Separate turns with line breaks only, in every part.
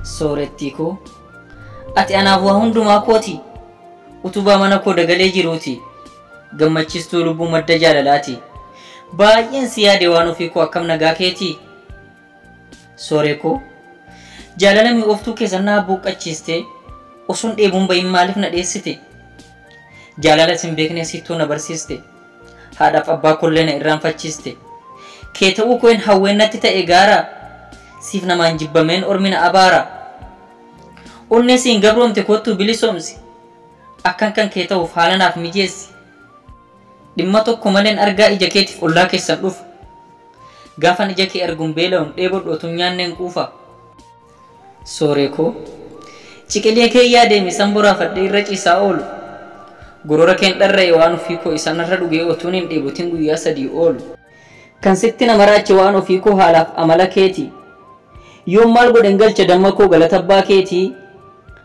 soorettii koo ati anaaf waa hundumaa kooti utubaa mana koo dagalee jiruuti gammachistuu lubbuu madda jaalalaati baay'een si yaade waan ofii koo akkam nagaa keetii Sooree koo jaalala mi'ooftuu keessan naa buuqqachiistee osoon dheebuun bahin maaliif na dheessite? Jaalala isin beekne siittuu na barsiiste. Haadhaaf abbaa kollee na irraanfachiiste. Kee ta'uu koo hin hawween natti ta'e gaara. Siif namaan jibbameen ormi na abaara. Onnee siin gabroomte koottuu bilisoomsi. Akkan kan kee ta'uuf haala naaf mijeessi. Dhimma tokko maleen argaa ija keetiif ollaa keessan dhufa. Gaafan ija kee argun beela'un dheebodhu otun nyaanneen quufa. Sooree koo. Ciqilee kee yaadee misan boraafadhee irra ciisaa oolu. Gorora keen dharra'e waan ofii koo isa narra dhugee otuun hin dheebotin guyyaa sadii oolu. Kan sitti na maraache waan ofii koo haalaaf amala keeti. Yoon maal godhen galcha damma koo galata abbaa keeti.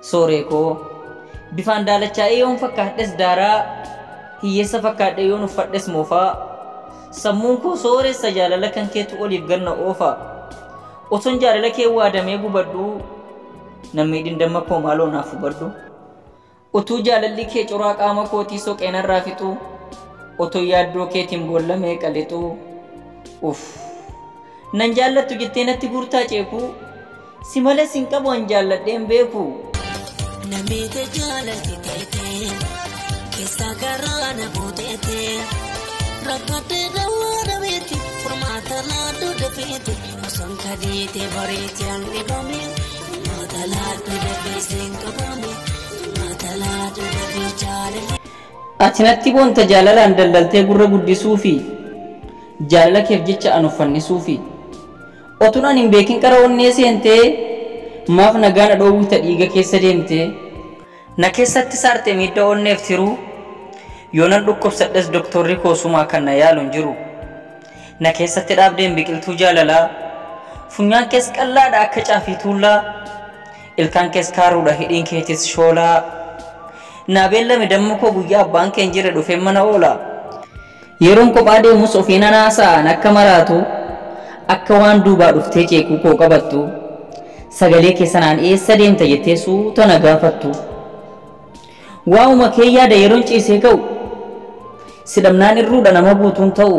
Sooree koo! Bifaan daalachaa'ee yoon fakkaadhes daaraa, hiyyeessa fakkaadhee yoon uffadhes moofaa, sammuun koo sooressa jaalala kan keetu oliif gad na oofa. Otoon jaalala kee waadamee gubadhuu, nan miidhin damma koo maaloo naaf hubadhu. Utuu jaalalli kee coraa qaama kootii soqee narraa fixuu, otoo yaaddoo keetiin boolla meeqa lixuu. Uff! Nan jaallattu jettee natti guurtaa ceekuu. Si malee sin qabu an jaalladhee hin beeku. Na
miite jaalalti teetee keessa garaa na buuteetee rakkatee dawaa dhabeeti furmaata laaddu dafeeti osoon kadiite bariiti an dhibame furmaata laaddu dafeeseen qabame furmaata laaddu dafee jaalalti. Ati natti
boonta jaalalaan daldaltee gurra guddisuufi jaalala keef jecha an of fannisuufi. Otun an hin beekin qara onnee seente Maaf nagaa na dhoowwita dhiiga keessa deemte. Na keessatti saarte miidha onneef tiruu Yoonan dhukkubsadhes doktorri koo sumaa kan na yaalu hin jiru Na keessatti dhaabdeen biqiltuu jaalalaa Funyaan kees qal'aadha akka caafii tuullaa Ilkaan kees kaaruudha hidhiin keetis shoolaa Naa beellami damma koo guyyaa abbaan kee hin jirre dhufeen mana oola Yeroon kophaa deemus ofiin nan haasa'a, nakka maraatu, akka waan duubaa dhuftee ceekuu koo qabattu, sagalee kee sanaan eessa deemta jettee suuta na gaafattu. Waa'uma kee yaada yeroon ciisee ka'u, si dhabnaan irruudha nama guutuun ta'u.